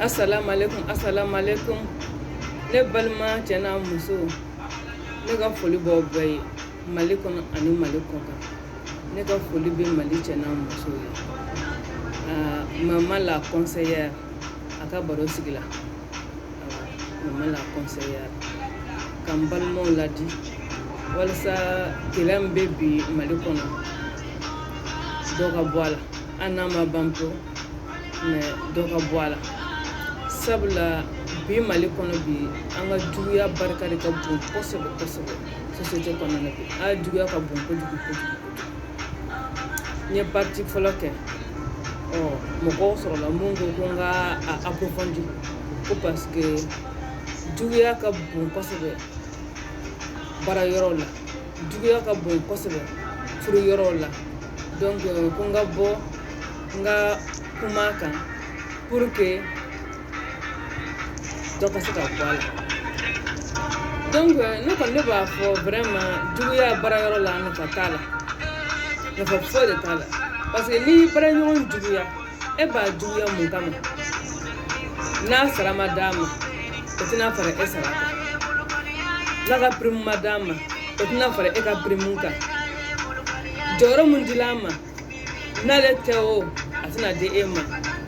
assalamu alaikum assalamu alaikum ne balima cɛ n'a muso ne ka foli b'aw bɛɛ ye mali kɔnɔ ani mali kɔkan ne ka foli bɛ mali cɛ n'a muso ye ah, mama la conseillère a ka barosigi la ah, mama la conseillère ka n balimaw ladi walasa kɛlɛ min bɛ bi mali kɔnɔ dɔ ka bɔ a la hali n'a ma ban pewu mais dɔ ka bɔ a la sabula bi mali kɔnɔ bi an ka juguya barika de ka bon kosɛbɛ kosɛbɛ société kɔnɔna na bi a juguya ka bon kojugu kojugu n ye partie fɔlɔ kɛ ɔ mɔgɔw sɔrɔla mun ko ko n ka a approfondi ko parce que juguya ka bon kosɛbɛ baara yɔrɔw la juguya ka bon kosɛbɛ furu yɔrɔw la donc ko n ka bɔ n ka kuma kan pour que dɔ ka se ka bɔ a la donc ne kɔni ne b'a fɔ vraiment juguya baara yɔrɔ la nafa t'a la nafa foyi de t'a la parce que n'i baaraɲɔgɔn juguya e b'a juguya mun kama n'a sara ma d'a ma o tɛna fara e sara kan n'a ka pirimu ma d'a ma o tɛna fara e ka pirimu kan jɔyɔrɔ mun dila a ma n'ale tɛ o a tɛna di e ma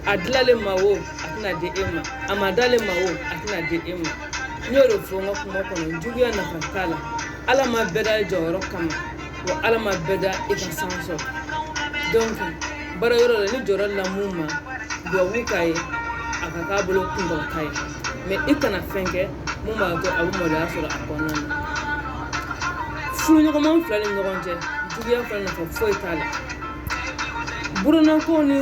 a dila ale ma o a tɛna di e ma a ma d'ale ma o a tɛna di e ma n y'o de fɔ n ka kuma kɔnɔ juguya nafa t'a la ala ma bɛɛ da jɔyɔrɔ kama wa ala ma bɛɛ da i ka san sɔrɔ donc baara yɔrɔ la ni jɔyɔrɔ dila mun ma duwawu k'a ye a ka k'a bolo kunkɔrɔta ye mais i kana fɛn kɛ mun b'a to a bɛ maloya sɔrɔ a kɔnɔna na furuɲɔgɔnma fila ni ɲɔgɔn cɛ juguya fana nafa foyi t'a la burunako ni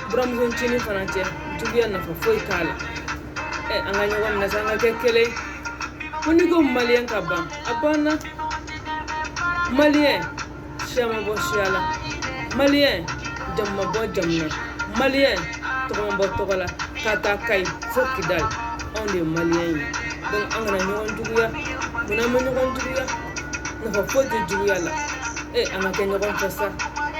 buramusoncinin fana cɛ juguya nafa foyi t'a la ɛ an ka ɲɔgɔn minɛ sa an ka kɛ kelen ko n'i ko maliyɛn ka ban a banna maliyɛn siya ma bɔ siya la maliyɛn jamu ma bɔ jamu na maliyɛn tɔgɔ ma bɔ tɔgɔ la k'a ta kayi fo kidali anw de ye maliyɛn ye donc an kana ɲɔgɔn juguya munna an bɛ ɲɔgɔn juguya nafa foyi tɛ juguya la e an ka kɛ ɲɔgɔn fɛ sa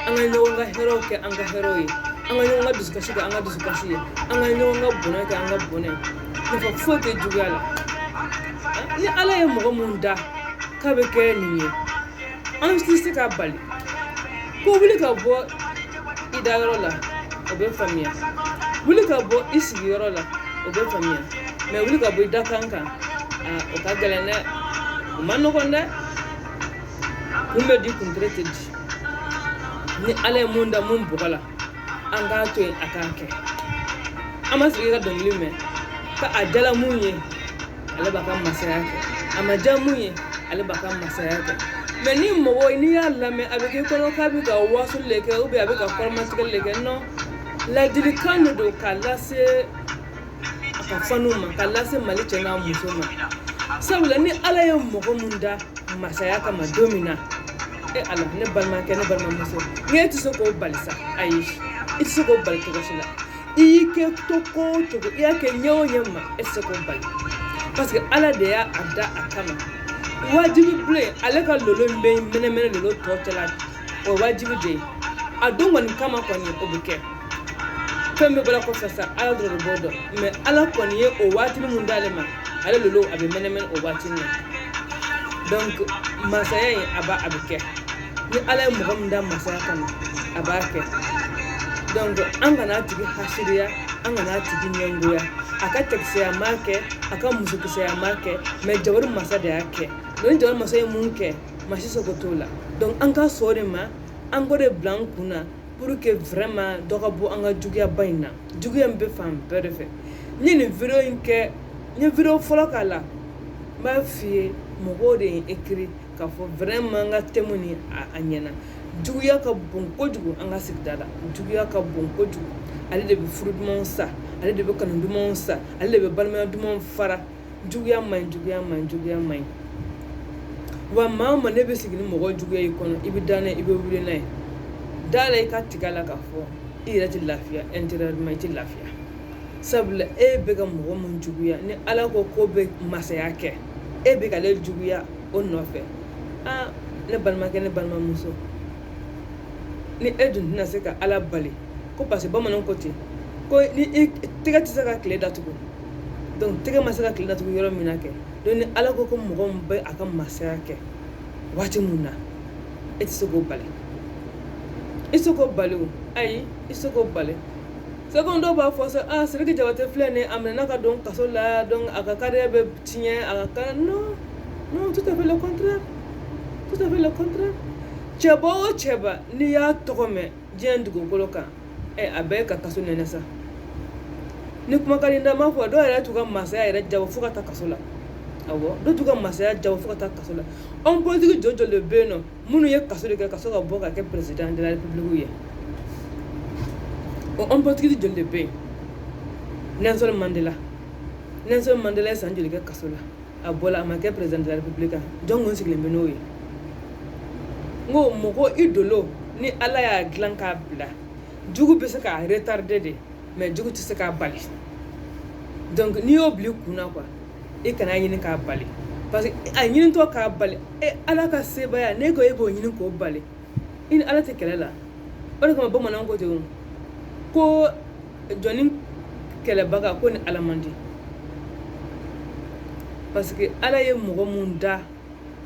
an ka ɲɔgɔn ka hɛrɛw kɛ an ka hɛrɛw ye an ka ɲɔgɔn ka dusukasi kɛ an ka dusukasi ye an ka ɲɔgɔn ka bonya kɛ an ka bonya ye nafa foyi tɛ juguya la ni ala ye mɔgɔ mun da k'a bɛ kɛ nin ye an tɛ se k'a bali ko wuli ka bɔ i dayɔrɔ la o bɛ faamuya wuli ka bɔ i sigiyɔrɔ la o bɛ faamuya mais wuli ka bɔ i dakan kan o ka gɛlɛn dɛ o ma nɔgɔn dɛ kun bɛ di kuntere tɛ di ni ala ye mun da mun bɔgɔ la an k'a to yen a k'a kɛ an ma sigi ka dɔnkili mɛn ka a jala mun ye ale b'a ka masaya kɛ a ma ja mun ye ale b'a ka masaya kɛ mais ni mɔgɔ n'i y'a lamɛn a bɛ k'i kɔnɔ k'a bɛ ka wasuli de kɛ ou bien a bɛ ka kɔrɔmatigɛli de kɛ non ladilikan de don k'a lase a ka fanw ma ka lase mali cɛ n'a muso ma sabula ni ala ye mɔgɔ min da masaya kama don min na e ala ne balimakɛ ne balimamuso n'i e tɛ se k'o bali sa ayi i tɛ se k'o bali cogo si la i y'i kɛ cogo o cogo i y'a kɛ ɲɛ o ɲɛ ma e tɛ se k'o bali parce que ala de y'a da a kama wajibi bilen ale ka lolo in bɛ mɛnɛmɛnɛ lolo tɔw cɛla o ye wajibi de ye a don kɔni kama kɔni o bɛ kɛ fɛn bɛ bɔra kɔfɛ sa ala dɔrɔn de b'o dɔn mais ala kɔni ye o waatini mun d'ale ma ale lolo a bɛ mɛnɛmɛnɛ o waatini na donc masaya in a b'a a bɛ kɛ ni ala ye mɔgɔ min da masaya kama a b'a kɛ donc an kana a tigi hasiriya an kana a tigi ɲɛngoya a ka cɛkisɛya m'a kɛ a ka musokisɛya m'a kɛ mais jabaru masa de y'a kɛ ni jabaru masa ye mun kɛ maa si seko t'o la donc an ka sɔn o de ma an k'o de bila an kun na pour que vraiment dɔ ka bɔ an ka juguyaba in na juguya in bɛ fan bɛɛ de fɛ n ye nin video in kɛ n ye video fɔlɔ k'a la n b'a f'i ye mɔgɔw de ye écrit k'a fɔ vraiment an ka thème nin a ɲɛna juguya ka bon kojugu an ka sigida la juguya ka bon kojugu ale de bɛ furu dumanw sa ale de bɛ kanu dumanw sa ale de bɛ balimaya dumanw fara juguya man ɲi juguya man ɲi juguya man ɲi wa maa o maa n'e bɛ sigi ni mɔgɔ juguya y'i kɔnɔ i bɛ da n'a ye i bɛ wuli n'a ye da a la i k'a tigɛ a la k'a fɔ i yɛrɛ tɛ lafiya intérieurement i tɛ lafiya sabula e bɛ ka mɔgɔ mun juguya ni ala ko k'o bɛ masaya kɛ e bɛ ka ale juguya o nɔfɛ aa ne balimakɛ ne balimamuso ni e dun tɛna se ka ala bali ko parce que bamananw ko ten ko ni i tɛgɛ tɛ se ka tile datugu donc tɛgɛ ma se ka tile datugu yɔrɔ min na kɛ donc ni ala ko ko mɔgɔ min bɛ a ka masaya kɛ waati min na e tɛ se k'o bali i tɛ se k'o bali o ayi i tɛ se k'o bali c'est comme dɔw b'a fɔ sa aa sidiki jabate filɛ nin a minɛna ka don kaso la donc a ka carrière bɛ tiɲɛ a ka carrière non non tout à fait le contraire tout à fait le contraire cɛba o cɛba n'i y'a tɔgɔ mɛn diɲɛ dugukolo kan ɛ a bɛɛ ka kaso nɛnɛ sa ni kumakan da ma fɔ dɔw yɛrɛ t'u ka masaya yɛrɛ jabɔ fo ka taa kaso la awɔ dɔw t'u ka masaya jabɔ fo ka taa kaso la homme politique jo joli bɛ yen nɔ minnu ye kaso de kɛ ka sɔrɔ ka bɔ ka kɛ président de la république ye o homme politique joli de bɛ yen nelson mandela nelson mandela ye san joli kɛ kaso la a bɔla a ma kɛ président de la république jɔn kun sigilen bɛ n'o ye n ko mɔgɔ i dolo ni ala y'a dilan k'a bila jugu bɛ se k'a retarder dɛ mais jugu tɛ se k'a bali donc n'i y'o bila i kun na quoi i kana ɲini k'a bali parce que a ɲinitɔ k'a bali e ala ka sebaaya n'e ko e b'o ɲini k'o bali i ni ala tɛ kɛlɛ la o de kama bamananw ko ten ko jɔnni kɛlɛbaga ko ni ala man di parce que ala ye mɔgɔ mun da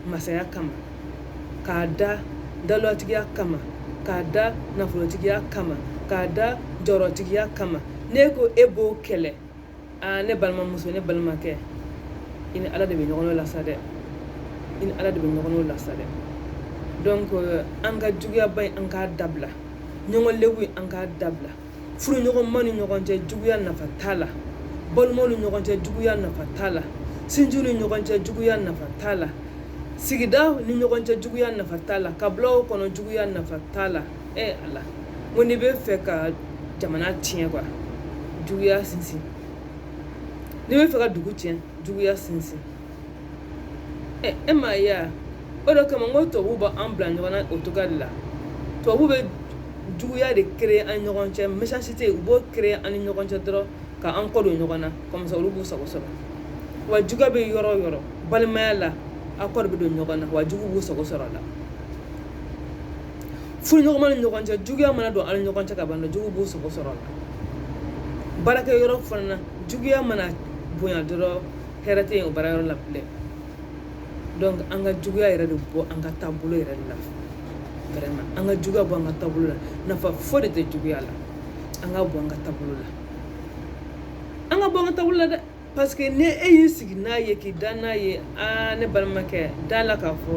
masaya kama k'a da dawulatigiya kama k'a da nafolotigiya kama k'a da jɔyɔrɔtigiya kama n'e ko e b'o kɛlɛ aa ne balimamuso ne balimakɛ i ni ala de bɛ ɲɔgɔn la sa dɛ i ni ala de bɛ ɲɔgɔn la sa dɛ donc an ka juguyaba in an k'a dabila ɲɔgɔn lebu in an k'a dabila furuɲɔgɔnma ni ɲɔgɔn cɛ juguya nafa t'a la balimaw ni ɲɔgɔn cɛ juguya nafa t'a la sinjiw ni ɲɔgɔn cɛ juguya nafa t'a la sigida ni ɲɔgɔn cɛ juguya nafa t'a la kabilaw kɔnɔ juguya nafa t'a la ɛ ala ko n'i bɛ fɛ ka jamana tiɲɛ quoi juguya sinsin n'i bɛ fɛ ka dugu tiɲɛ juguya sinsin e m'a ye wa o de kama n ko tubabuw b'an bila ɲɔgɔn na o cogoya de la tubabuw bɛ juguya de créer an ni ɲɔgɔn cɛ méchanceté u b'o créer an ni ɲɔgɔn cɛ dɔrɔn ka an kɔ don ɲɔgɔn na comme ça olu b'u sago sɔrɔ wa juguya bɛ yɔrɔ o yɔrɔ balimaya la aw kɔ de bɛ don ɲɔgɔn na wa jugu b'u sago sɔrɔ a la furuɲɔgɔnma ni ɲɔgɔn cɛ juguya mana don an ni ɲɔgɔn cɛ ka ban jugu b'u sago sɔrɔ a la baarakɛyɔrɔ fana na juguya mana bonya dɔrɔn hɛrɛ tɛ yen o baara yɔrɔ la bilen donc an ka juguya yɛrɛ de bɔ an ka taabolo yɛrɛ de la vraiment an ka juguya bɔ an ka taabolo la nafa foyi de tɛ juguya la an k'a bɔ an ka taabolo la an k'a bɔ an ka taabolo la dɛ parce que ni e y'i sigi n'a ye k'i da n'a ye aa ne balimakɛ da la k'a fɔ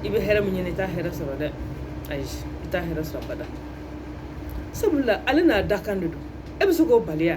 i bɛ hɛrɛ min ɲini i t'a hɛrɛ sɔrɔ dɛ ayi i t'a hɛrɛ sɔrɔ abada sabula ale n'a dakan de don e bɛ se k'o bali wa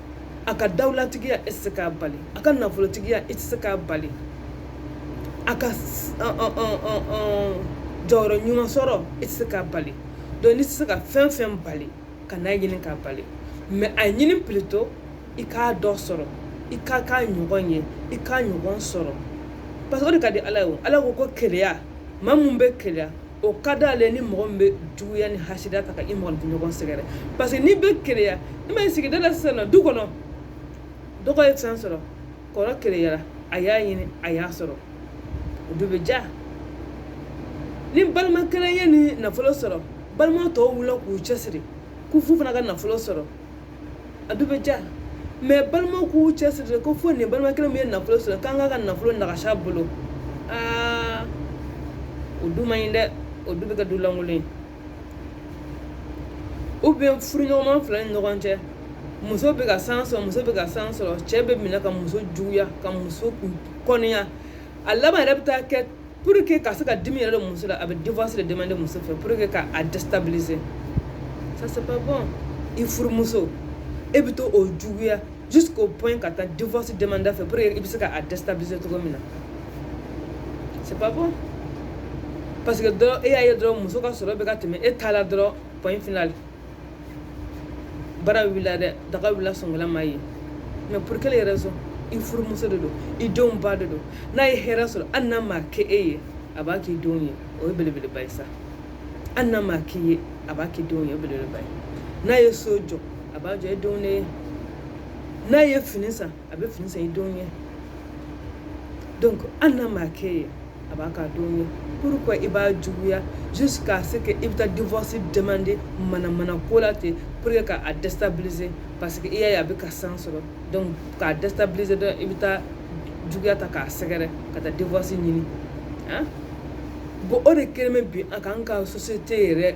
a ka dawulatigiya e tɛ se k'a bali a ka nafolotigiya e tɛ se k'a bali a ka jɔyɔrɔ ɲuman sɔrɔ e tɛ se k'a bali donc n'i tɛ se ka fɛn fɛn bali kan'a ɲini k'a bali mais a ɲini plutôt i k'a dɔ sɔrɔ i ka k'a ɲɔgɔn ye i k'a ɲɔgɔn sɔrɔ parce que o de ka di ala ye o ala ko ko keleya maa mun bɛ keleya o ka d'ale ni mɔgɔ min bɛ juguya ni hasida ta ka i mɔgɔninfin ɲɔgɔn sɛgɛrɛ parce que n'i bɛ keleya i ma sigida la sisan nɔ du kɔnɔ dɔgɔ ye fɛn sɔrɔ kɔrɔ keleyara a y'a ɲini a y'a sɔrɔ o du bɛ diya ni balima kelen ye ni nafolo sɔrɔ balima tɔw wulila k'u cɛsiri k'u f'u fana ka nafolo sɔrɔ a du bɛ ja mais balimaw k'u cɛ siri ko fo nin balima kelen min ye nafolo sɔrɔ k'an k'a ka nafolo nagasi a bolo aa o du man ɲi dɛ o du bɛ kɛ du lankolon ye ou bien furuɲɔgɔnma fila ni ɲɔgɔn cɛ muso bɛ ka chance sɔrɔ muso bɛ ka chance sɔrɔ cɛ bɛ minɛ ka muso juguya ka muso kɔniya a laban yɛrɛ bɛ taa kɛ pour que ka se ka dimi yɛrɛ don muso la a bɛ divorce de demander muso fɛ pour que ka a déstabiliser ça c'est pas bon i furumuso e bɛ to o juguya jusqu'au point ka taa divorce demander fɛ pour que i bɛ se ka a déstabiliser cogo min na c'est pas bon parce que dɔrɔn e y'a ye dɔrɔn muso ka sɔrɔ bɛ ka tɛmɛ e ta la dɔrɔn point final bara wulila dɛ daga wulila sɔnkala ma ye mais pour quelle raison i furumuso de don i denw ba de don n'a ye hɛrɛ sɔrɔ hali n'a ma kɛ e ye a b'a k'i denw ye o ye belebeleba ye sa hali n'a ma k'i ye a b'a k'i denw ye o ye belebeleba ye n'a ye so jɔ a b'a jɔ e denw de ye n'a ye fini san a bɛ fini san i denw ye donc hali n'a ma k'i ye a b'a k'a denw ye pourquoi i b'a juguya jusqu'à ce que i bɛ taa divorce demander manamana ko la ten pour que ka a déstabiliser parce que i y'a ye a bɛ ka chance sɔrɔ donc k'a déstabiliser dɔrɔn i bɛ taa juguya ta k'a sɛgɛrɛ ka taa divorce ɲini ah bon o de kɛlen bɛ bi a k'an ka société yɛrɛ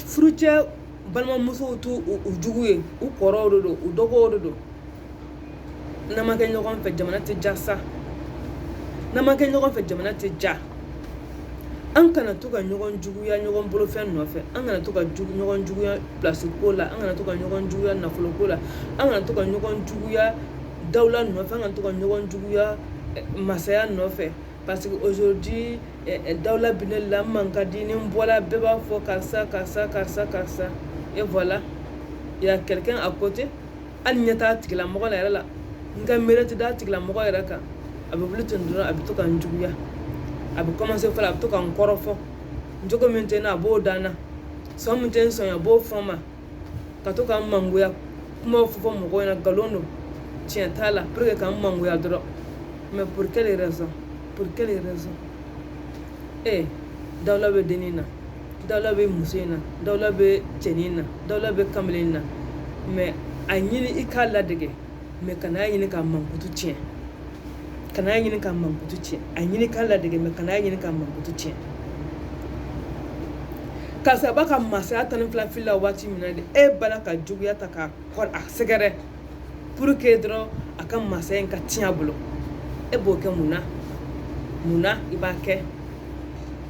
furucɛ balimamusow t'u jugu ye u kɔrɔw de don u dɔgɔw de don n'an ma kɛ ɲɔgɔn fɛ jamana tɛ ja sa n'an ma kɛ ɲɔgɔn fɛ jamana tɛ ja an kana to ka ɲɔgɔn juguya ɲɔgɔn bolofɛn nɔfɛ an kana to ka ɲɔgɔn juguya pilasi ko la an kana to ka ɲɔgɔn juguya nafolo ko la an kana to ka ɲɔgɔn juguya dawula nɔfɛ an kana to ka ɲɔgɔn juguya eh, masaya nɔfɛ parce que aujourd'hui eh, eh, dawula bɛ ne la n man ka di ni n bɔla bɛɛ b'a fɔ karisa karisa karisa karisa et voilà il y a quelqu'un à côté hali n ɲɛ t'a tigilamɔgɔ la yɛrɛ la n ka miiri tɛ d'a tigilamɔgɔ yɛrɛ kan a bɛ wuli ten dɔrɔn a bɛ to ka n juguya a bɛ commencer fɔlɔ a bɛ to ka n kɔrɔfɔ jogo min tɛ n na a b'o da n na sɔn min tɛ n sɔn a b'o fɔ n ma ka to ka n mangoya kumaw fɔ fɔ mɔgɔw ɲɛna nkalon don tiɲɛ t'a la pour que ka n mangoya dɔrɔn mais pour quelle raison pour quelle raison ee dawula bɛ dennin na dawula bɛ muso in na dawula bɛ cɛnin na dawula bɛ kamalen na mais a ɲini i k'a ladege mais kana a ɲini k'a mankutu tiɲɛ kana a ɲini k'a mankutu tiɲɛ a ɲini k'a ladege mais kana a ɲini k'a mankutu tiɲɛ karisa a b'a ka masaya tan ni fila fili la waati min na de e bala ka juguya ta k'a sɛgɛrɛ pour que dɔrɔn a ka masaya in ka tiɲɛ a bolo e b'o kɛ mun na mun na i b'a kɛ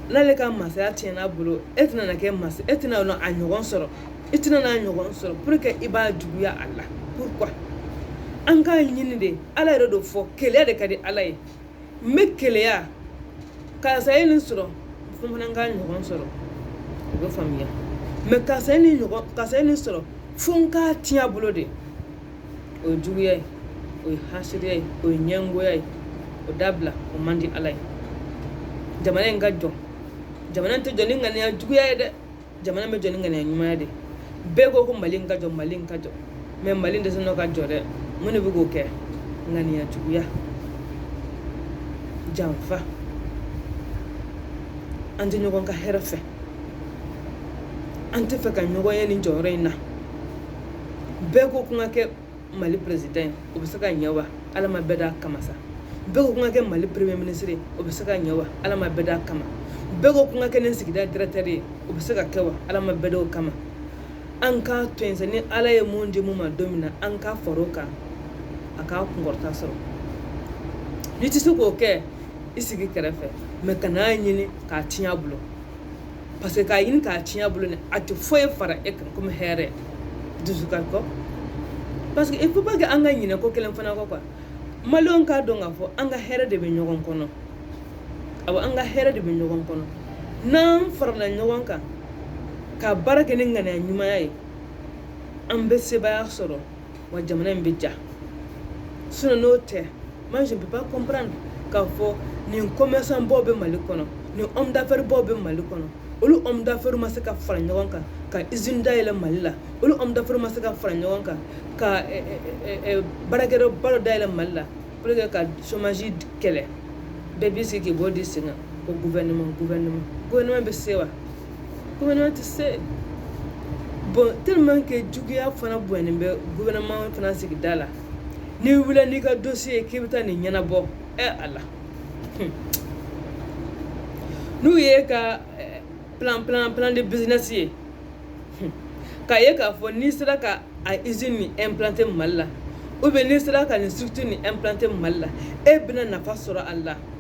n'ale ka masaya tiɲɛna a bolo e tɛna kɛ masa e tɛna a ɲɔgɔn sɔrɔ i tɛna a ɲɔgɔn sɔrɔ pour que i b'a juguya a la pourquoi an k'a ɲini de ala yɛrɛ de fɔ keleya de ka di ala ye n bɛ keleya karisa ye nin sɔrɔ fo fana n k'a ɲɔgɔn sɔrɔ o bɛ faamuya mais karisa ye nin ɲɔgɔn karisa ye nin sɔrɔ fo n k'a tiɲɛ a bolo de o ye juguya ye o ye hasidiya ye o ye ɲɛngoya ye o dabila o man di ala ye jamana in ka jɔ jamana in tɛ jɔ ni ŋaniya juguya ye dɛ jamana bɛ jɔ ni ŋaniya ɲumanya de bɛɛ ko ko mali ka jɔ mali ka jɔ mais mali dɛsɛ n'o ka jɔ dɛ mun de bɛ k'o kɛ ŋaniya juguya janfa an tɛ ɲɔgɔn ka hɛrɛ fɛ an tɛ fɛ ka ɲɔgɔn ye nin jɔyɔrɔ in na bɛɛ ko ko n ka kɛ mali président ye o bɛ se ka ɲɛ wa ala ma bɛɛ d'a kama sa bɛɛ ko ko n ka kɛ mali premier ministre ye o bɛ se ka ɲɛ wa ala ma bɛɛ d'a kama bɛɛ ko ko n ka kɛ nin sigida directeur ye o bɛ se ka kɛ wa ala ma bɛɛ d'o kama an k'a to yen sa ni ala ye mun di mun ma don min na an ka far'o kan a ka kunkɔrɔta sɔrɔ n'i tɛ se k'o kɛ i sigi kɛrɛfɛ mais kan'a ɲini k'a tiɲɛ a bolo parce que k'a ɲini k'a tiɲɛ a bolo ni a tɛ foyi fara e kan komi hɛrɛ dusukasi kɔ parce que il faut pas que an ka ɲinɛ ko kelen fana kɔ quoi maliyɛnw k'a dɔn k'a fɔ an ka hɛrɛ de bɛ ɲɔgɔn kɔnɔ awɔ an ka hɛrɛ de bɛ ɲɔgɔn kɔnɔ n'an farala ɲɔgɔn kan ka baara kɛ ni ŋaniya ɲumanya ye an bɛ sebaaya sɔrɔ wa jamana in bɛ jɔ sinon n'o tɛ moi je ne peux pas comprendre k'a fɔ nin commerçant baw bɛ mali kɔnɔ nin homme d'affaires baw bɛ mali kɔnɔ olu homme d'affaires ma se ka fara ɲɔgɔn kan ka usine dayɛlɛ mali la olu homme d'affaires ma se ka fara ɲɔgɔn kan ka baarakɛyɔrɔ ba dɔ dayɛlɛ mali la pour que ka chômage kɛlɛ bɛɛ b'i sigi k'i bolo d'i sen kan ko gouvernement gouvernement gouvernement bɛ se wa Gouvernement tɛ se bon tellement que juguya fana bonyalen bɛ gouvernement fana sigida la n'i wulila n'i ka dossier ye k'i bɛ taa nin ɲɛnabɔ ɛ a la n'u y'e ka eh, plan plan plan de business ye k'a ye k'a fɔ n'i sera ka a usine nin implanter mali la ou bien n'i sera ka nin structure nin implanter mali la e bɛna nafa sɔrɔ a la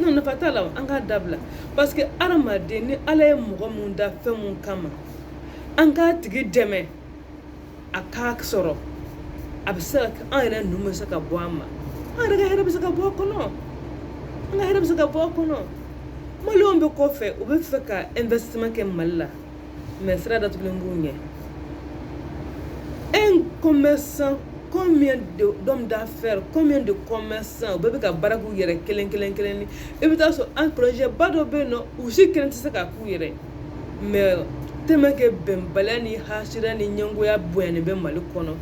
non nafa t'a la an k'a dabila parce que adamaden ni ala ye mɔgɔ mun da fɛn mun kama an k'a tigi dɛmɛ a k'a sɔrɔ a bɛ se ka kɛ an yɛrɛ ninnu bɛ se ka bɔ a nun ma an yɛrɛ ka hɛrɛ bɛ se ka bɔ a kɔnɔ an ka hɛrɛ bɛ se ka bɔ a kɔnɔ maliyɛnw bɛ kɔfɛ u bɛ fɛ ka investissement kɛ mali la mais sira datugulen b'u ɲɛ un commerçant combien d'hommes d'affaires combien de commerçants u bɛɛ bɛ ka baara k'u yɛrɛ kelen kelen kelen ni i bɛ taa sɔrɔ un projet ba dɔ bɛ yen nɔ u si kelen tɛ se k'a k'u yɛrɛ mais tellement que bɛnbaliya ni hasira ni ɲɛngoya bonyani bɛ mali kɔnɔ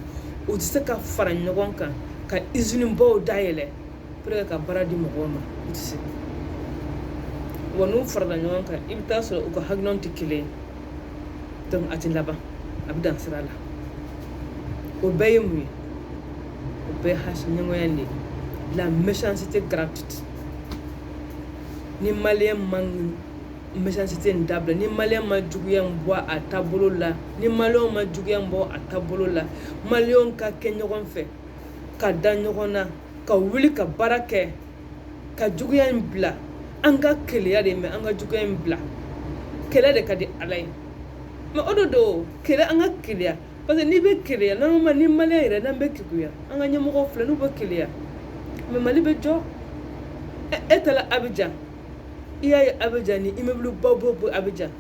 u tɛ se ka fara ɲɔgɔn kan ka usine baw dayɛlɛ pour que ka baara di mɔgɔw ma u tɛ se wa n'u farala ɲɔgɔn kan i bɛ taa sɔrɔ u ka hakilinaw tɛ kelen ye donc a tɛ laban a bɛ dan sira la o bɛɛ ye mun ye o bɛɛ hasi ɲɛngoya de ye la méchanceté gratuite ni maliyɛn ma méchanceté in dabila ni maliyɛn ma juguya in bɔ a taabolo la ni maliyɛnw ma juguya in bɔ a taabolo la maliyɛnw ka kɛ ɲɔgɔn fɛ ka da ɲɔgɔn na ka wuli ka baara kɛ ka juguya in bila an ka keleya de mais an ka juguya in bila keleya de ka di ala ye mais o de don kɛlɛ an ka keleya parce que n'i bɛ keleya normalement ni maliyɛn yɛrɛ n'an bɛ keguya an ka ɲɛmɔgɔw filɛ n'u bɛ keleya mais mali bɛ jɔ e taara abijan i y'a ye abijan ni immeuble ba b'o bɔ abijan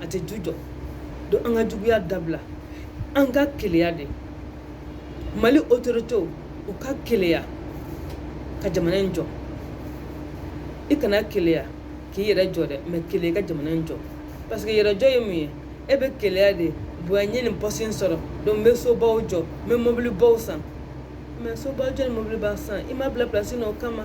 a tɛ du jɔ donc an ka juguya dabila an ka keleya de mali autoritéw u ka keleya ka jamana in jɔ i kana keleya k'i yɛrɛ jɔ dɛ mais keleya ka jamana in jɔ parce que yɛrɛjɔ ye mun ye e bɛ keleya de bonya n ye nin poste in sɔrɔ donc n bɛ sobaw jɔ n bɛ mobilibaw san mais sobaw jɔ ni mobiliba san i ma bila pilasi na o kama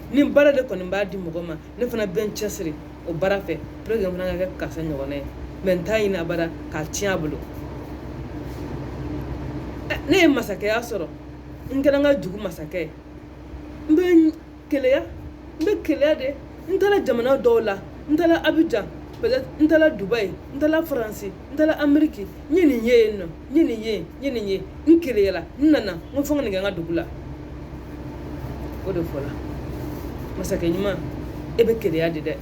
ni baara de kɔni b'a di mɔgɔ ma ne fana bɛ n cɛsiri o baara fɛ pour que n fana ka kɛ karisa ɲɔgɔnna ye mais n t'a ɲini abada k'a tiɲɛ a bolo ne ye masakɛya sɔrɔ n kɛra n ka dugu masakɛ ye n bɛ keleya n bɛ keleya de n taara jamana dɔw la n taara abijan peut-être n taara dubayi n taara faransi n taara ameriki n ye nin ye yen nɔ n ye nin ye n ye nin ye n keleyala n nana n ko fo n ka nin kɛ n ka dugu la o de fɔla masakɛ ɲuman e bɛ keleya de dɛ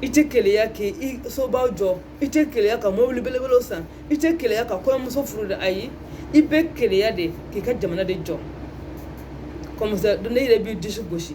i tɛ keleya k'i sobaw jɔ i tɛ keleya ka mobili belebelew san i tɛ keleya ka kɔɲɔmuso furu de ayi i bɛ keleya de k'i ka jamana de jɔ comme ça ne yɛrɛ b'i disi gosi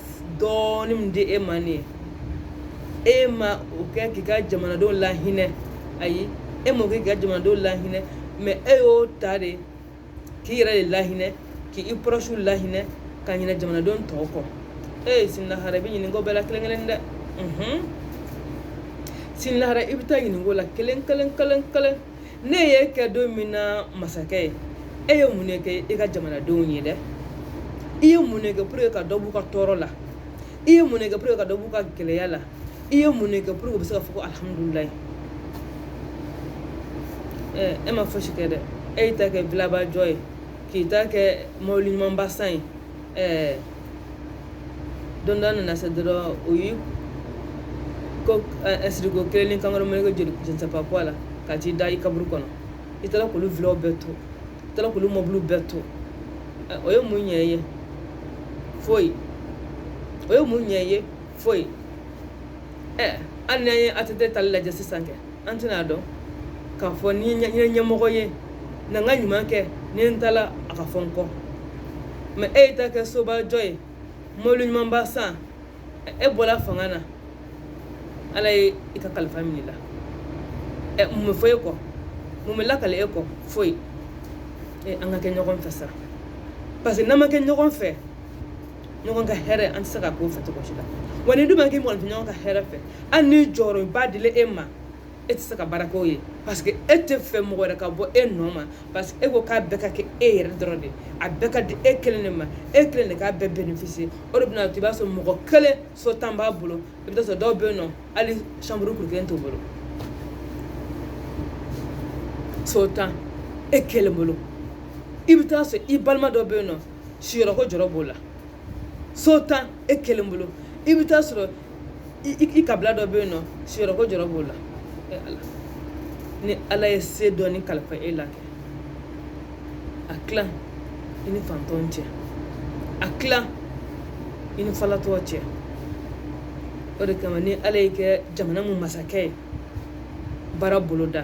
dɔɔnin min di e ma nin e ma o kɛ k'i ka jamanadenw lahinɛ ayi e m'o kɛ k'i ka jamanadenw lahinɛ mais e y'o ta de k'i yɛrɛ de lahinɛ k'i proches lahinɛ ka ɲinɛ jamanadenw tɔw kɔ e sini lahara i bɛ ɲininka o bɛɛ la kelen kelen dɛ sini lahara i bɛ taa ɲininka o la kelen kelen kelen kelen ne ye kɛ don min na masakɛ ye e ye mun de kɛ e ka jamanadenw ye dɛ i ye mun de kɛ pour que ka dɔ b'u ka tɔɔrɔ la i ye mun de kɛ pour ka dɔ b'u ka gɛlɛya la i ye mun de kɛ pour que u bɛ se ka fɔ ko alihamudulilayi ɛɛ e ma fosi kɛ dɛ e y'i ta kɛ vilaba jɔ ye k'i ta kɛ mɔbili ɲumanba san ye ɛɛ don dɔ nana se dɔrɔn o y'i ko ɛsiriko kelen ni kankɔrɔ mɛnɛkɛ joli jɛnsɛnpa kɔ la ka t'i da i kaburu kɔnɔ i taara k'olu vilaw bɛɛ to i taara k'olu mɔbiliw bɛɛ to o ye mun ɲɛ ye foyi o ye mun ɲɛ ye foyi ɛ hali n'an ye ATT taali lajɛ sisan kɛ an tɛna dɔn k'a fɔ ni n ye ɲɛmɔgɔ ye na n ka ɲuman kɛ ni n taala a ka fɔ n kɔ mais e y'i ta kɛ soba jɔ ye mɔbili ɲumanba san e bɔra fanga na ala ye i ka kalifa minɛ i la ɛ mun bɛ fɔ e kɔ mun bɛ lakali e kɔ foyi e an ka kɛ ɲɔgɔn fɛ sa parce que n'an ma kɛ ɲɔgɔn fɛ ɲɔgɔn ka hɛrɛ an tɛ se ka k'o fɛ cogo si la wa n'i dun ma k'i mɔgɔninfin ɲɔgɔn ka hɛrɛ fɛ hali ni jɔyɔrɔba dila e ma e tɛ se ka baara k'o ye parce que e tɛ fɛ mɔgɔ wɛrɛ ka bɔ e nɔ ma parce que e ko k'a bɛɛ ka kɛ e yɛrɛ dɔrɔn de a bɛɛ ka di e kelen de ma e kelen de k'a bɛɛ bénéficier o de bɛna to i b'a sɔrɔ mɔgɔ kelen so tan b'a bolo i bɛ taa sɔrɔ dɔw bɛ yen nɔ hali chambre kuru kelen t'u bolo so tan e kelen bolo i bɛ taa sɔrɔ i balima dɔ bɛ yen nɔ siyɔrɔ ko jɔrɔ b'o la so tan e kelen bolo i bɛ taa sɔrɔ i kabila dɔ bɛ yen nɔ siyɔrɔ ko jɔrɔ b'o la e ala ni ala ye se dɔɔni kalifa e la kɛ a tila i ni fantɔn cɛ a tila i ni falatɔ cɛ o de kama ni ala y'i kɛ jamana mun masakɛ ye baara boloda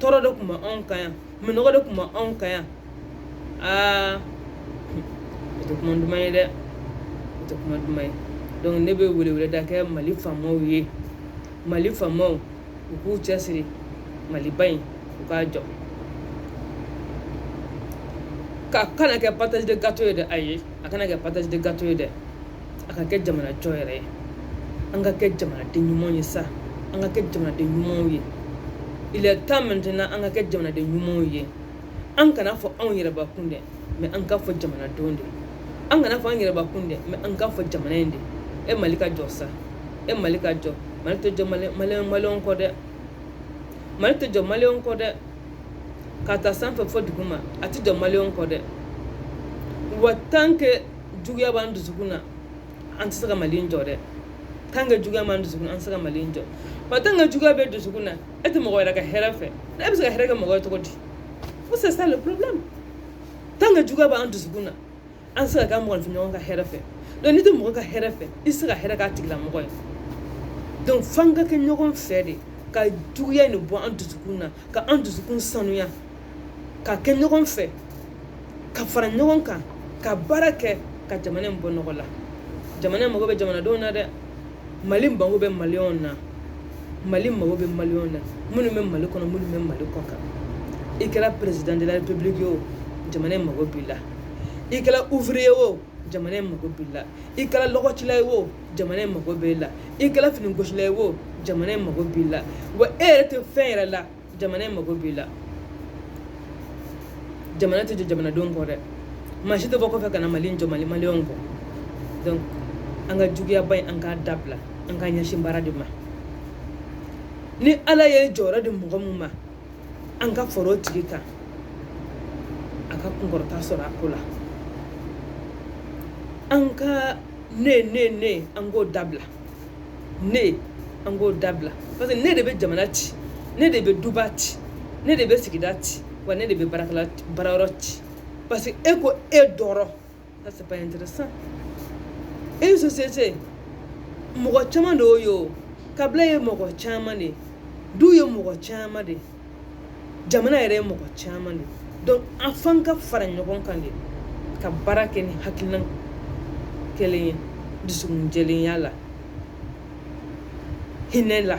tɔɔrɔ de tun bɛ anw kan yan minɔgɔ de tun bɛ anw kan yan aa o tɛ kuma duman ye dɛ o tɛ kuma duman ye donc ne bɛ weleweleda kɛ mali faamaw ye mali faamaw u k'u cɛsiri maliba in u k'a jɔ k'a kana kɛ partage de gâteau ye dɛ ayi a kana kɛ partage de gâteau ye dɛ a ka kɛ jamana jɔ yɛrɛ ye an ka kɛ jamanaden ɲumanw ye sa an ka kɛ jamanaden ɲumanw ye il est temps maintenant an ka kɛ jamanaden ɲumanw ye an kana fɔ anw yɛrɛbakun dɛ mais an ka fɔ jamanadenw de an kana fɔ an yɛrɛbakun dɛ mais an ka fɔ jamana in de e mali ka jɔ sa e mali ka jɔ mali tɛ jɔ maliyɛn kɔ dɛ mali tɛ jɔ maliyɛn kɔ dɛ ka taa sanfɛ fo duguma a tɛ jɔ maliyɛnw kɔ dɛ wa tant que juguya b'an dusukun na an tɛ se ka mali jɔ dɛ tant que juguya b'an dusukun na an tɛ se ka mali jɔ wa tant que juguya bɛ dusukun na e tɛ mɔgɔ wɛrɛ ka hɛrɛ fɛ e bɛ se ka hɛrɛ kɛ mɔgɔ ye cogo di ko c'est ça le problème tant que juguya b'an dusukun na an tɛ se ka kɛ mɔgɔninfin ɲɔgɔn ka hɛrɛ fɛ donc n'i tɛ mɔgɔ ka hɛrɛ fɛ i tɛ se ka hɛrɛ k'a tigilamɔgɔ ye donc f'an ka kɛ ɲɔgɔn fɛ de ka juguya in bɔ an dusukun na ka an dusukun sanuya ka kɛ ɲɔgɔn fɛ ka fara ɲɔgɔn kan ka baara kɛ ka jamana in bɔ nɔgɔ la jamana in mago bɛ jamanadenw na dɛ mali mago bɛ maliyɛnw na mali mago bɛ maliyɛnw na minnu bɛ mali kɔnɔ minnu bɛ mali kɔkan i kɛra président de la république ye o jamana in mago b'i la i kɛra ouvrier ye o jamana in mago b'i la i kɛra lɔgɔcila ye o jamana in mago b'i la i kɛra finigosila ye o jamana in mago b'i la wa e yɛrɛ tɛ fɛn yɛrɛ la jamana in mago b'i la jamana tɛ jɔ jamanadenw kɔ dɛ maa si tɛ bɔ kɔfɛ ka na mali jɔ mali maliyɛnw kɔ donc an ka juguyaba in an k'a dabila an k'an ɲɛsin baara de ma ni ala ye jɔyɔrɔ di mɔgɔ min ma an ka fara o tigi kan a ka kunkɔrɔta sɔrɔ a ko la an ka ne ne ne an k'o dabila ne an k'o dabila parce que ne de bɛ jamana ci ne de bɛ duba ci ne de bɛ sigida ci wa ne de bɛ baara baarayɔrɔ ci parce que e ko e dɔrɔn Ça c'est pas intéressant. Une société, mɔgɔ caman de y'o ye o, kabila ye mɔgɔ caman de ye, du ye mɔgɔ caman de ye, jamana yɛrɛ ye mɔgɔ caman de ye. Donc an f'an ka fara ɲɔgɔn kan de ka baara kɛ ni hakilina kelen ye dusukun jɛlenya la, hinɛ la.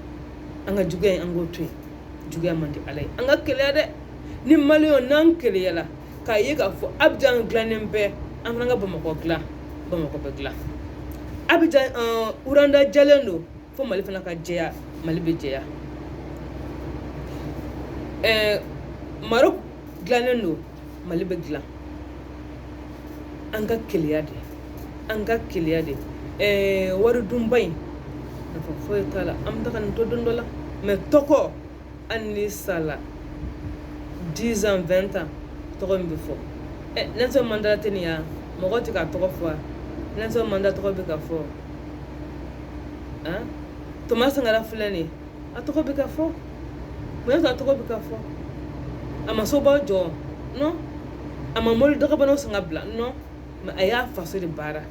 an ka juguya in an k'o to yen juguya man di ala ye an ka keleya de ni maliyɛnw n'an keleyala k'a ye k'a fɔ abijan dilannen bɛ an fana ka bamakɔ dilan bamakɔ bɛ dilan abijan rwanda jɛlen don fo mali fana ka jɛya mali bɛ jɛya ɛɛ maroc dilannen don mali bɛ dilan an ka keleya de an ka keleya de ɛɛ eh, wari dunba in nafa foyi t'a la an bɛ taga nin to don dɔ la mais tɔgɔ hali n'i sala 10 ans 20 ans tɔgɔ min bɛ fɔ ɛ eh, nelson mandela tɛ nin ya mɔgɔ tɛ k'a tɔgɔ fɔ nelson mandela tɔgɔ bɛ ka fɔ han ah, thomas sankara filɛ nin ye a tɔgɔ bɛ ka fɔ mun y'a to a tɔgɔ bɛ ka fɔ a ma sobaw jɔ non a ma mɔbili dagabanaw san ka bila non mais a y'a faso de baara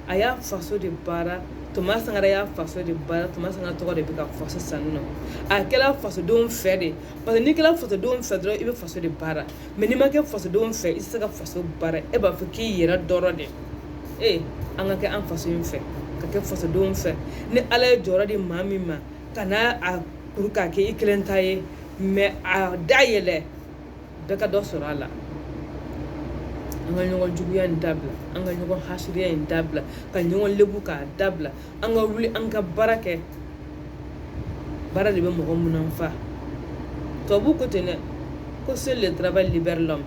a y'a faso de baara thomas sankara y'a faso de baara thomas sankara tɔgɔ de bɛ ka fɔ sisan non a kɛra fasodenw fɛ de parce que n'i kɛra fasodenw fɛ dɔrɔn i bɛ faso de baara mais n'i ma kɛ fasodenw fɛ i tɛ se ka faso baara e b'a fɔ k'i yɛrɛ dɔrɔn de ee an ka kɛ an faso in fɛ ka kɛ fasodenw fɛ ni ala ye jɔyɔrɔ di maa min ma kana a kuru k'a kɛ i kelen ta ye mais a dayɛlɛ bɛɛ ka dɔ sɔrɔ a la an ka ɲɔgɔn juguya in dabila an ka ɲɔgɔn hasidiya in dabila ka ɲɔgɔn lebu k'a dabila an ka wuli an ka baara kɛ baara de bɛ mɔgɔ munanfa tubabu ko ten dɛ ko seul le travail libère l'homme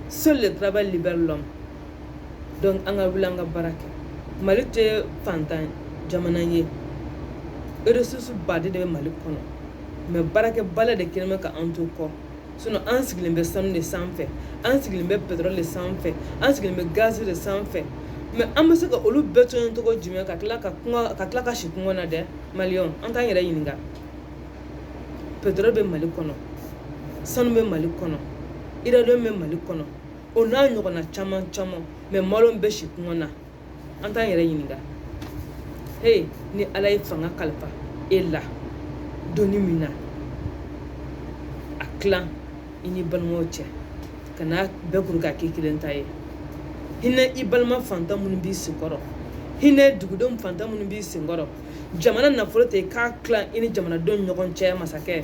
seul le travail libère l'homme donc an ka wuli an ka baara kɛ mali tɛ fantan jamana ye ressources baden de bɛ mali kɔnɔ mais baarakɛbaliya de kɛlen bɛ ka an to kɔ sinon an sigilen bɛ sanu de sanfɛ an sigilen bɛ pétrole de sanfɛ an sigilen bɛ gaz de sanfɛ mais an bɛ se ka olu bɛɛ to yen cogo jumɛn ka tila ka si kɔngɔ na dɛ malienw an t'an yɛrɛ ɲininka pétrole bɛ mali kɔnɔ sanu bɛ mali kɔnɔ uranium bɛ mali kɔnɔ o n'a ɲɔgɔnna caman caman mais malienw bɛ si kɔngɔ na an t'an yɛrɛ ɲininka he ni ala ye fanga kalifa e la doni min na a tilan i n'i balimaw cɛ kan'a bɛɛ kuru k'a k'i kelen ta ye hinɛ i balima fantan minnu b'i senkɔrɔ hinɛ dugudenw fantan minnu b'i senkɔrɔ jamana nafolo ta k'a tilan i ni jamanadenw ɲɔgɔn cɛ masakɛ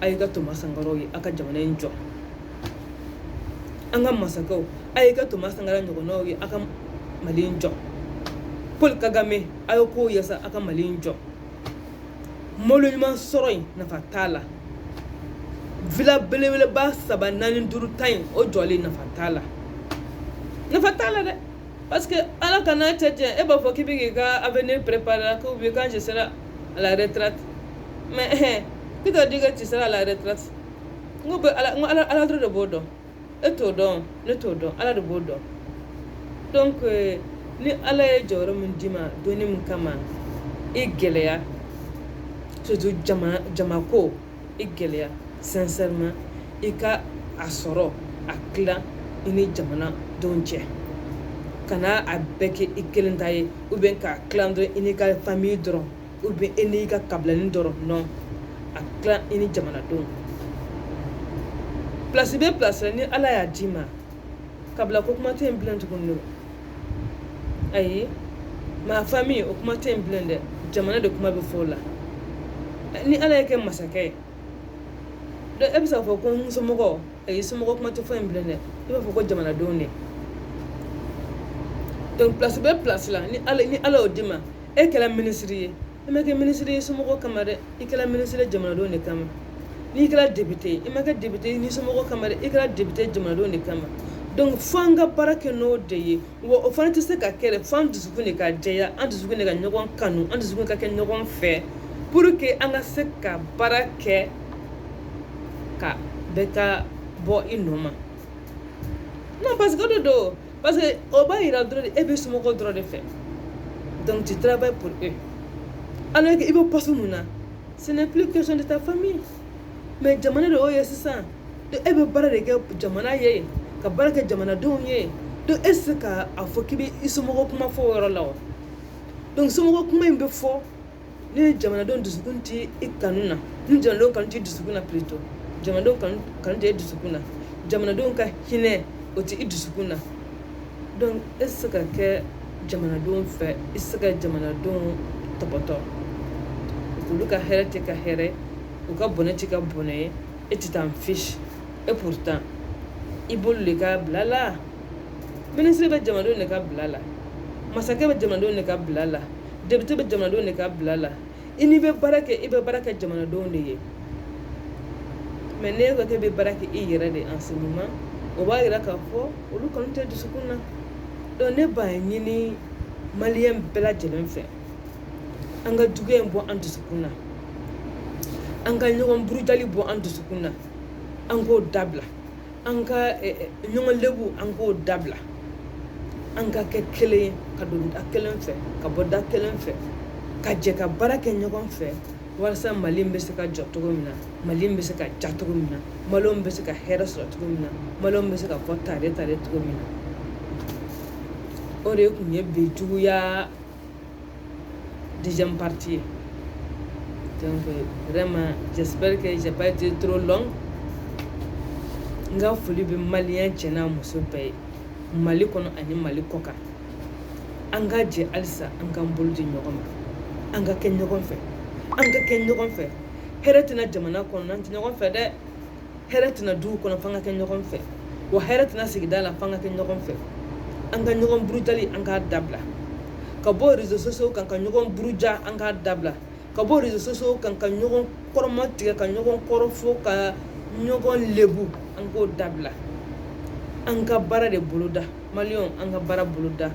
a y'i kɛ thomas sankaraw ye a ka jamana in jɔ an ka masakɛw a y'i kɛ thomas sankara ɲɔgɔnnaw ye a ka mali in jɔ paul kagame a y'a k'o ye sa a ka mali in jɔ mɔbili ɲuman sɔrɔ in nafa t'a la villa belebeleba saba naani duuru tan in o jɔlen nafa t'a la nafa t'a la dɛ parce que ala kan'a kɛ cɛ e b'a fɔ k'i bɛ k'i ka avenir préparer ko bi quand je serai à la retraite mais ɛhɛn qui t'a dit que tu seras à la retraite n ko bɛ ala n ko ala ala dɔrɔn de b'o dɔn e t'o dɔn ne t'o dɔn ala de b'o dɔn donc euh, ni ala ye jɔyɔrɔ min d'i ma doni min kama i gɛlɛya surtout jama jamako i gɛlɛya sincèrement i ka a sɔrɔ a tilan i ni jamanadenw cɛ kana a bɛɛ kɛ i kelen ta ye ou bien k'a tilan dɔrɔn i n'i ka famille dɔrɔn ou bien i n'i ka kabilani dɔrɔn non a tilan i ni jamanadenw place bɛ place la ni ala y'a d'i ma kabila ko kuma tɛ yen bilen tuguni ayi ma famille o kuma tɛ yen bilen dɛ jamana de kuma bɛ fɔ o la ni ala y'e kɛ masakɛ ye donc e bɛ se k'a fɔ ko n somɔgɔ ayi somɔgɔ kuma tɛ fɔ yen bilen dɛ i b'a fɔ ko jamanadenw de donc place bɛ place la ni ala y'o d'i ma e kɛla ministre ye i ma kɛ ministre ye i somɔgɔ kama dɛ i kɛla ministre ye jamanadenw de kama n'i kɛla député ye i ma kɛ député ye i somɔgɔ kama dɛ i kɛla député ye jamanadenw de kama donc fo an ka baara kɛ n'o de ye wa o fana tɛ se ka kɛ dɛ fo an dusukun de ka jɛya an dusukun de ka ɲɔgɔn kanu an dusukun de ka kɛ ɲɔgɔn fɛ pour que an ka se ka baara kɛ ka bɛɛ ka bɔ i nɔ ma non parce que o de don parce que o b'a yira dɔrɔn de e bɛ somɔgɔw dɔrɔn de fɛ donc tu travailles pour eux alors que i bɛ poste min na ce n'est plus question de ta famille mais jamana de y'o ye sisan donc e bɛ baara de kɛ jamana ye ka baara kɛ jamanadenw ye donc e tɛ se ka a fɔ k'i bɛ i somɔgɔ kuma fɔ o yɔrɔ la wa donc somɔgɔ kuma in bɛ fɔ. ni jamanadenw dusukun tɛ i kanu na ni jamanadenw kanu tɛ i dusukun na plutôt jamanadenw kanu tɛ e dusukun na jamanadenw ka hinɛ o tɛ i dusukun na donc e tɛ se ka kɛ jamanadenw fɛ i tɛ se ka jamanadenw tɔpɔtɔ olu ka hɛrɛ t'e ka hɛrɛ u ka bɔnɛ t'e ka bɔnɛ ye e tu t'en fiches et pourtant i b'olu de ka bila la ministre bɛ jamanadenw de ka bila la masakɛ bɛ jamanadenw de ka bila la député bɛ jamanadenw de ka bila la i n'i bɛ baara kɛ i bɛ baara kɛ jamanadenw de ye mais n'e ko k'e bɛ baara kɛ i yɛrɛ de en ce moment o b'a yira k'a fɔ olu kanu t'i dusukun na donc ne b'a ɲini maliyɛn bɛɛ lajɛlen fɛ an ka juguya in bɔ an dusukun na an ka ɲɔgɔn burujali bɔ an dusukun na an k'o dabila an ka ɲɔgɔn lebu an k'o dabila an ka kɛ kelen ye ka don da kelen fɛ ka bɔ da kelen fɛ ka jɛ ka baara kɛ ɲɔgɔn fɛ walasa mali bɛ se ka jɔ cogo min na mali bɛ se ka diya cogo min na maliyɛnw bɛ se ka hɛrɛ sɔrɔ cogo min na maliyɛnw bɛ se ka fɔ tare tare cogo min na o de tun ye bi juguya deuxième partie ye donc vraiment j'espère que j'ai pas été trop long n ka foli bɛ maliyɛn cɛ n'a muso bɛɛ ye mali kɔnɔ ani mali kɔkan an ka jɛ halisa an k'an bolo di ɲɔgɔn ma an ka kɛ ɲɔgɔn fɛ an ka kɛ ɲɔgɔn fɛ hɛrɛ tɛ na jamana kɔnɔ n'an tɛ ɲɔgɔn fɛ dɛ hɛrɛ tɛ na dugu kɔnɔ f'an ka kɛ ɲɔgɔn fɛ wa hɛrɛ tɛ na sigida la f'an ka kɛ ɲɔgɔn fɛ an ka ɲɔgɔn burujali an k'a dabila ka bɔ réseaux sociaux kan ka ɲɔgɔn buruja an k'a dabila ka bɔ réseaux sociaux kan ka ɲɔgɔn kɔrɔmatigɛ ka ɲɔgɔn kɔrɔfɔ ka ɲɔgɔn lebu an k'o dabila an ka baara de boloda maliyɛnw an ka baara boloda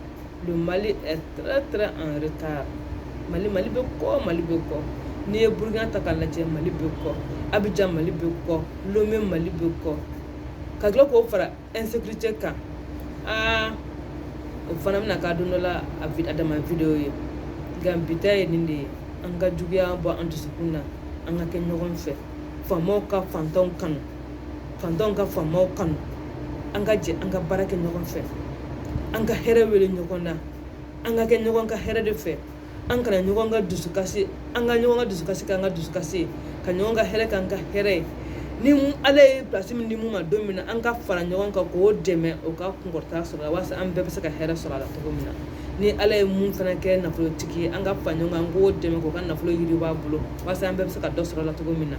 le mali est très très en retard mali mali bɛ kɔ mali bɛ kɔ n'i ye burukina ta k'a lajɛ mali bɛ kɔ abijan mali bɛ kɔ lome mali bɛ kɔ ka tila k'o fara insécurité kan aa o fana bɛna kɛ don dɔ la a dama video ye nka bi ta ye nin de ye an ka juguya bɔ an dusukun na an ka kɛ ɲɔgɔn fɛ faamaw ka fantanw kanu fantanw ka faamaw kanu an ka jɛ an ka baara kɛ ɲɔgɔn fɛ an ka hɛrɛ wele ɲɔgɔn na an ka kɛ ɲɔgɔn ka hɛrɛ de fɛ an kana ɲɔgɔn ka dusukasi an ka ɲɔgɔn ka dusukasi k'an ka dusukasi ka ɲɔgɔn ka hɛrɛ k'an ka hɛrɛ ye ni ala ye pilasi min di mun ma don min na an ka fara ɲɔgɔn kan k'o dɛmɛ o ka kunkɔrɔta sɔrɔ walasa an bɛɛ bɛ se ka hɛrɛ sɔrɔ a la cogo min na ni ala ye mun fana kɛ nafolotigi ye an ka fara ɲɔgɔn kan k'o dɛmɛ k'o ka nafolo yiriwa a bolo walasa an bɛɛ bɛ se ka dɔ sɔrɔ a la cogo min na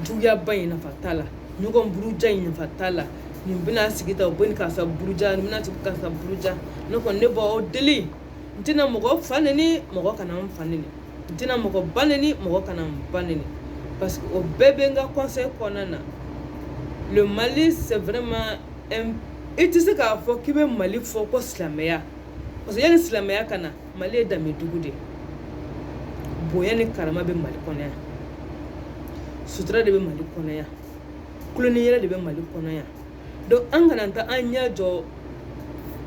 juguyaba in nafa t'a la ɲɔgɔn buruja in nafa t'a la nin bɛna sigi ta u bɛ nin karisa buruja nin bɛna sigi karisa buruja ne kɔni ne b'aw deli n tɛna mɔgɔ fa neni mɔgɔ kana n fa neni n tɛna mɔgɔ ba neni mɔgɔ kana n ba neni parce que o bɛɛ bɛ n ka conseil kɔnɔna na le mali c'est vraiment un i tɛ se k'a fɔ k'i bɛ mali fɔ ko silamɛya parce que yanni silamɛya ka na mali ye danbe dugu de bonya ni karama bɛ mali kɔnɔ yan sutura de bɛ mali kɔnɔ yan kuloniyɛrɛ de bɛ mali kɔnɔ yan donc an kana taa an ɲɛ jɔ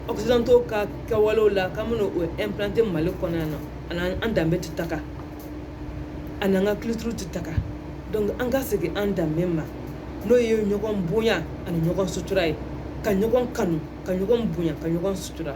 occidentaux ka kɛwalew la k'an bɛna o implanter mali kɔnɔ yan non a ni an danbe tɛ taga a ni an ka culture tɛ taga donc an ka segin an danbe ma n'o ye ɲɔgɔn bonya ani ɲɔgɔn sutura ye ka ɲɔgɔn kanu ka ɲɔgɔn bonya ka ɲɔgɔn sutura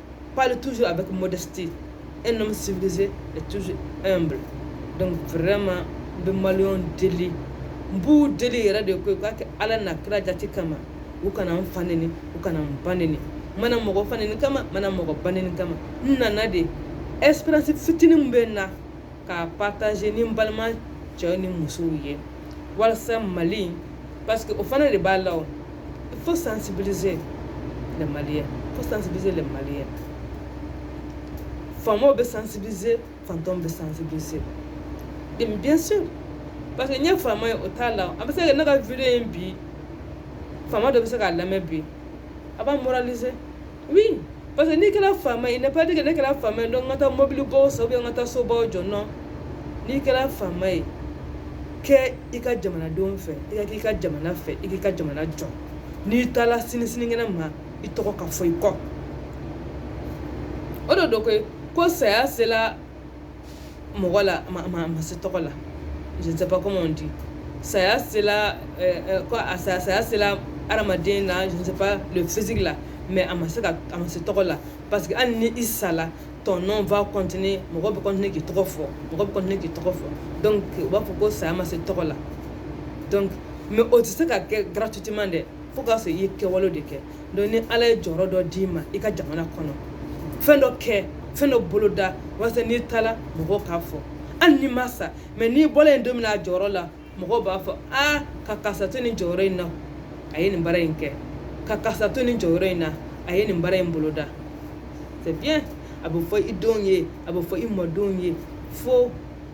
parle toujours avec modestie un homme civilisé est toujours humble donc vraiment n bɛ maliyɛnw deli n b'u deli yɛrɛ de ko u k'a kɛ ala n'a kira jati kama u kana n fa neni u kana n ba neni n ma na mɔgɔ fa neni kama n ma na mɔgɔ ba neni kama n nana de expérience fitinin min bɛ n na k'a partager ni n balima cɛw ni musow ye walasa mali parce que o fana de b'a la o il faut sensibiliser les maliens il faut sensibiliser les maliens faamaw bɛ sensibiliser fantanw bɛ sensibiliser et bien sûr parce que n ye faama ye o t'a la a bɛ se ka ne ka video in bi faama dɔ bɛ se k'a lamɛn bi a b'a moraliser oui parce que n'i kɛra faama ye ne pas dire ne kɛra faama ye donc n ka taa mɔbilibaw san n ka taa sobaw jɔ non n'i kɛra faama ye kɛ i ka jamanadenw fɛ i ka k'i ka jamana fɛ i k'i ka jamana jɔ n'i taara sini sinikɛnɛ ma i tɔgɔ ka fɔ i kɔ o de don koyi ko saya sela mɔgɔ la a ma se tɔgɔ la je ne sais pas comment on dit saya sela euh, euh, ko a saya saya sela adamaden na je ne sais pas le physique la mais a ma se ka a ma se tɔgɔ la parce que hali ni i sala ton nom va continuer mɔgɔ bɛ continuer k'i tɔgɔ fɔ mɔgɔ bɛ continuer k'i tɔgɔ fɔ donc u b'a fɔ ko saya ma se tɔgɔ la donc mais o tɛ se ka kɛ gratuitement dɛ fo k'a sɔrɔ i ye kɛwale de kɛ donc ni ala ye jɔyɔrɔ dɔ d'i ma i ka jamana kɔnɔ fɛn dɔ kɛ fɛn dɔ boloda walasa n'i taara mɔgɔw k'a fɔ hali n'i ma sa mais n'i bɔla yen don min na a jɔyɔrɔ la mɔgɔw b'a fɔ a ka karisa to nin jɔyɔrɔ in na a ye nin baara in kɛ ka karisa to nin jɔyɔrɔ in na a ye nin baara in boloda c'est bien a bɛ fɔ i denw ye a bɛ fɔ i mɔdenw ye fo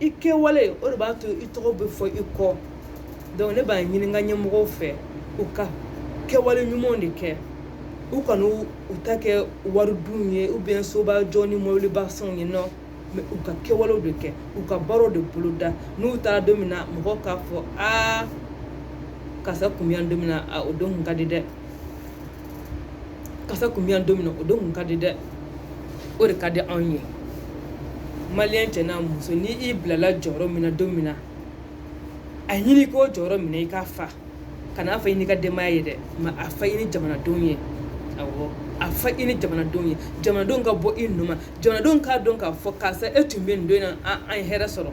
i kɛwale o de b'a to i tɔgɔ bɛ fɔ i kɔ donc ne b'a ɲini n ka ɲɛmɔgɔw fɛ u ka kɛwale ɲumanw de kɛ u kana u ta kɛ wari dun ye ou bien soba jɔ ni mɔbiliba san ye non mais u ka kɛwalew de kɛ u ka baaraw de boloda n'u taara don min na mɔgɔ k'a fɔ aa karisa kun bɛ yan don min na o don kun ka di dɛ karisa kun bɛ yan don min na o don kun ka di dɛ o de ka di anw ye maliyɛn cɛ n'a muso ni i bilala jɔyɔrɔ min na don min na a ɲini k'o jɔyɔrɔ minɛ i k'a fa kan'a fa i n'i ka denbaya ye dɛ mais a fa i ni jamanadenw ye awɔ a fa i ni jamanadenw ye jamanadenw ka bɔ i nɔ ma jamanadenw k'a dɔn k'a fɔ karisa e tun bɛ nin don in na an ye hɛrɛ sɔrɔ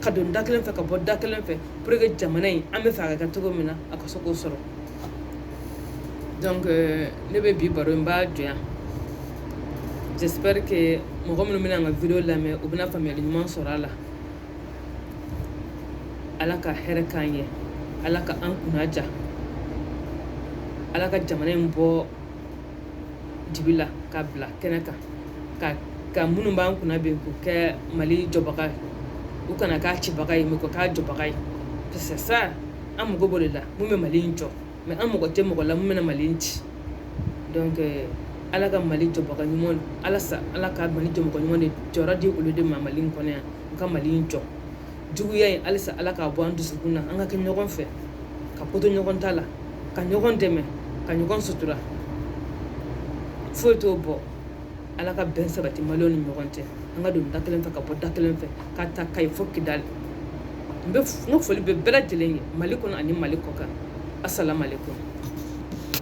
ka don da kelen fɛ ka bɔ da kelen fɛ pour que jamana in an b'a fɛ a ka kɛ cogo min na a ka se k'o sɔrɔ donc euh, ne bɛ bi baro in n b'a jɔ yan j'espère que mɔgɔ minnu bɛna n ka video lamɛn u bɛna faamuyali ɲuman sɔrɔ a la ala ka hɛrɛ k'an ye ala ka an kunna diya ala ka jamana in bɔ dibi la k'a bila kɛnɛ kan ka ka minnu b'an kunna bi k'u kɛ mali jɔbaga ye u kana k'a cibaga ye mais k'u k'a jɔbaga ye parce que sa an mago b'o de la mun bɛ mali in jɔ mais an mago tɛ mɔgɔ la mun bɛna mali in ci donc euh, ala ka mali jɔbaga ɲuman ala sa ala ka mali jɔmɔgɔ ɲuman de jɔyɔrɔ di olu de ma mali in kɔnɔ yan u ka mali in jɔ juguya in halisa ala k'a bɔ an dusukun na an ka kɛ ɲɔgɔn fɛ ka koto ɲɔgɔn ta la ka ɲɔgɔn dɛmɛ ka ɲɔgɔn sutura foyi t'o bɔ ala ka bɛn sabati maliw ni ɲɔgɔn cɛ an ka don da kelen fɛ ka bɔ da kelen fɛ ka ta kayi fo kidali n ka foli bɛ bɛɛ lajɛlen ye mali kɔnɔ ani mali kɔkan asalaamaaleykum